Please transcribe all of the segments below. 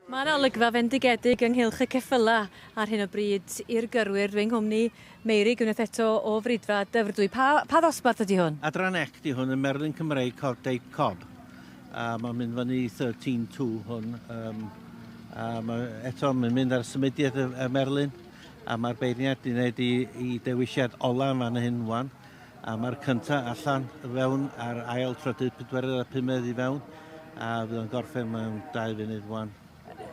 Mae yna olygfa fendigedig ynghylch y ceffylau ar hyn o bryd i'r gyrwyr. Fy nghwmni, Meirig, unwaith eto o Fridfa Dyfrdwy. Pa, pa ddosbarth ydy hwn? Adran Act di hwn yn Merlin Cymreig Cod Date Cob. A mae'n mynd fyny 13-2 hwn. Um, a mae, eto, mae'n mynd ar symudiad y, y Merlin. A mae'r beirniad di wneud i, i dewisiad ola yn fan hyn wan. A mae'r cyntaf allan y fewn a'r ail trydydd pedwerydd a pumed i fewn a fydd o'n gorffen mewn dau funud wan.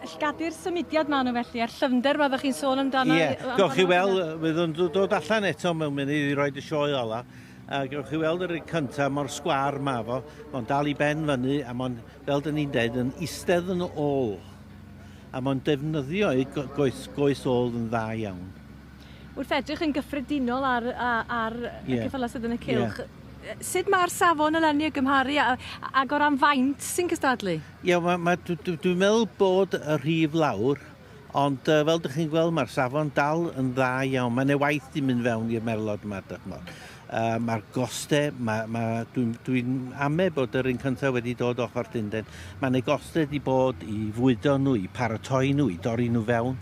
Llgadu'r symudiad maen nhw felly, a'r llyfnder mae ddech chi'n sôn amdano? Ie, yeah. gawch chi weld, fydd o'n dod allan eto mewn munud i roed y sioe ola. A gawch chi weld yr un cyntaf mor sgwar ma fo, mae'n dal i ben fyny a mae'n, fel dyn ni'n dweud, yn eistedd yn ôl. A mae'n defnyddio ei goes, goes ôl yn dda iawn. wrth edrych yn gyffredinol ar, ar y yeah. ceffylau sydd yn y cilch, yeah sut mae'r safon eleni y gymharu ag o ran faint sy'n cystadlu? Ie, yeah, ma, dwi'n dwi meddwl bod y rhif lawr, ond uh, fel ydych chi'n gweld mae'r safon dal yn dda iawn. Mae'n ei waith di mynd fewn i'r merlod yma, dych chmod. Yym, a'r goste, ma', ma', dwi'n, dwi'n ame bod yr un cyntaf wedi dod ochr Llundain. Mae yna goste wedi bod i fwydo nhw, i paratoi nhw, i dorri nhw fewn.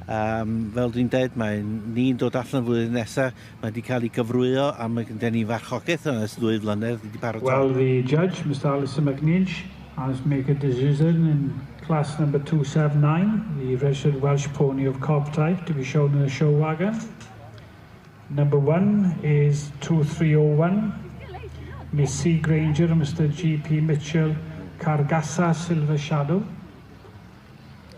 Um, fel dwi'n dweud, mae ni'n dod allan flwyddyn nesaf, mae wedi cael ei gyfrwyo a mae gyda ni farchogaeth yn ys ddwy flynedd wedi paratoi. Well, the judge, Mr Alison McNinch, has make a decision in class number 279, the registered Welsh pony of cob type, to be shown in a show wagon. Number one is two three oh one, Miss C Grainger and Mister GP Mitchell, Cargasa Silver Shadow.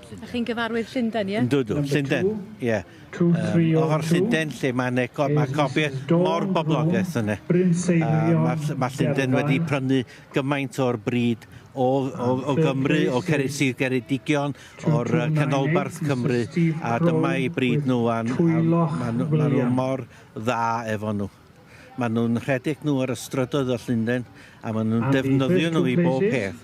A chi'n gyfarwydd Llundain, ie? Yndw, dw, Llundain, ie. O'r Llundain lle mae yna go, mae copi mor boblogaidd yna. Mae Llundain wedi prynu gymaint o'r bryd o, o, o Gymru, o Ceres Geredigion, o'r yy canolbarth Cymru a dyma i bryd nhw a ma' nhw ma' nhw mor dda efo nhw. Ma' nhw'n rhedeg nhw ar y strydoedd o Llundain a ma' nhw'n defnyddio nhw i bob peth.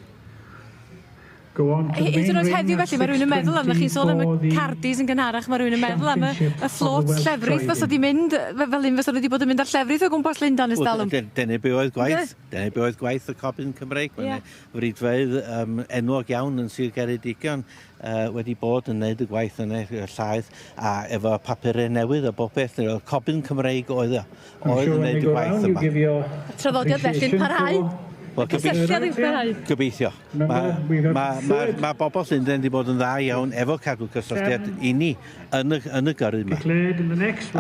Hyd yn oed heddiw felly mae rhywun yn meddwl am chi'n sôn am y cardis yn gynharach mae rhywun yn meddwl am y y fflôt llefrith fysa di mynd fe- fel hyn fysa nhw wedi bod yn mynd ar llefrith o gwmpas Llundain ers dalwm. Dyna be oedd gwaith dyna be oedd gwaith y Cobyn Cymreig. Ie. Fridfeydd um, enwog iawn yn Sir Geredigion uh, wedi bod yn gwneud y gwaith yn eich llaeth a efo papurau newydd a bob beth, y cobyn Cymreig oedd, oedd yn gwneud y gwaith yma. Y traddodiad felly'n parhau? Wel, gobeithio. Gobeithio. Mae ma, ma, ma bobl Llundain wedi bod yn dda iawn efo cadw cysylltiad i ni yn y, yn y gyrru yma.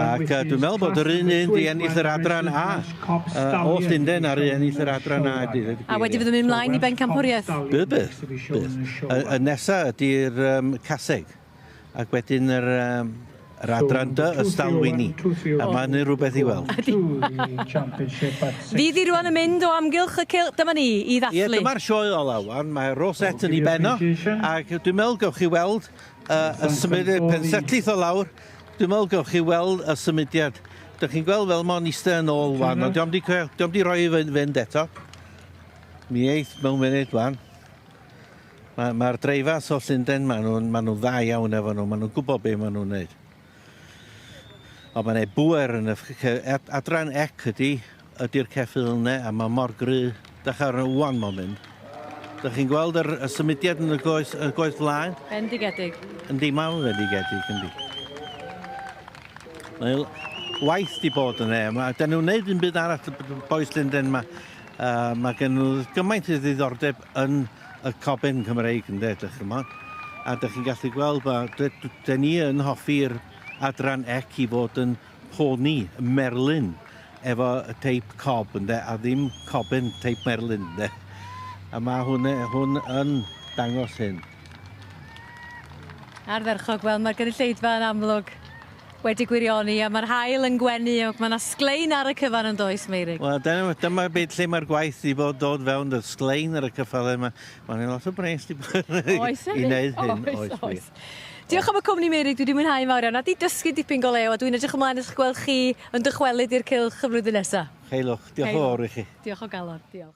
Ac dwi'n meddwl bod yr un un di ennill yr adran A. Uh, o Llundain ar un ennill yr adran A. Di, di, a wedyn fydd yn mynd mlaen i bencampwriaeth? Bydd, bydd. bydd. Y, y nesaf ydy'r um, caseg. Ac wedyn yr, um, yr adran dy ystalwini. A mae hynny rhywbeth i weld. Fydd i rwan yn mynd o amgylch y cilch. Dyma ni i ddathlu. Ie, dyma'r sioe ola wan. Mae Rosette yn ei benno. Ac dwi'n meddwl gawch chi weld A, a symud y pensetllith o lawr, dwi'n meddwl gewch chi weld y symudiad. Dych chi'n gweld fel mae'n eistedd yn ôl wan, ond diolch wedi, diolch wedi rhoi i fynd eto. Mi eith mewn munud wan. Mae'r mae dreifas o Llundain, maen nhw'n ma nhw dda iawn efo nhw, maen nhw'n gwybod beth maen nhw'n gwneud. O mae'n ei bwer yn y adran ec ydy, ydy'r ceffyl yne a mae mor gry. Dach ar y one moment. Dych chi'n gweld yr, y symudiad yn y goes, y goes flaen? Bendigedig. Yndi, mae'n fendigedig, yndi. Mae waith di bod yn e. Mae, da nhw'n neud yn byd arall, boes Linden, mae, uh, mae gen nhw gymaint o ddiddordeb yn y coben Cymreig ynde, dych chymod. A dych chi'n gallu gweld ba, dyn ni yn hoffi'r adran ec i fod yn poni merlyn efo y teip cob ynde, a ddim coben teip merlyn ynde. A mae hwn, hwn yn dangos hyn. Ardderchog, wel mae'r gynulleidfa yn amlwg Wedi gwirioni a ma'r haul yn gwenu ac ma' 'na sglein ar y cyfan yn does Meurig? Wel dyna fo dyma be' lle ma'r gwaith 'di bod dod fewn do'dd sglein ar y cyffyle 'ma ma' 'ne lot o bres 'di bod Oes oes. i neud hyn oes wir. Oes oes. Diolch am y cwmni Meurig dwi 'di mwynhau fawr iawn a 'di dysgu dipyn go lew a dwi'n edrych ymlaen at gweld chi yn dychwelyd i'r cylch y flwyddyn nesa. Heilwch. Diolch yn fowr i chi. Diolch o galon. Diolch.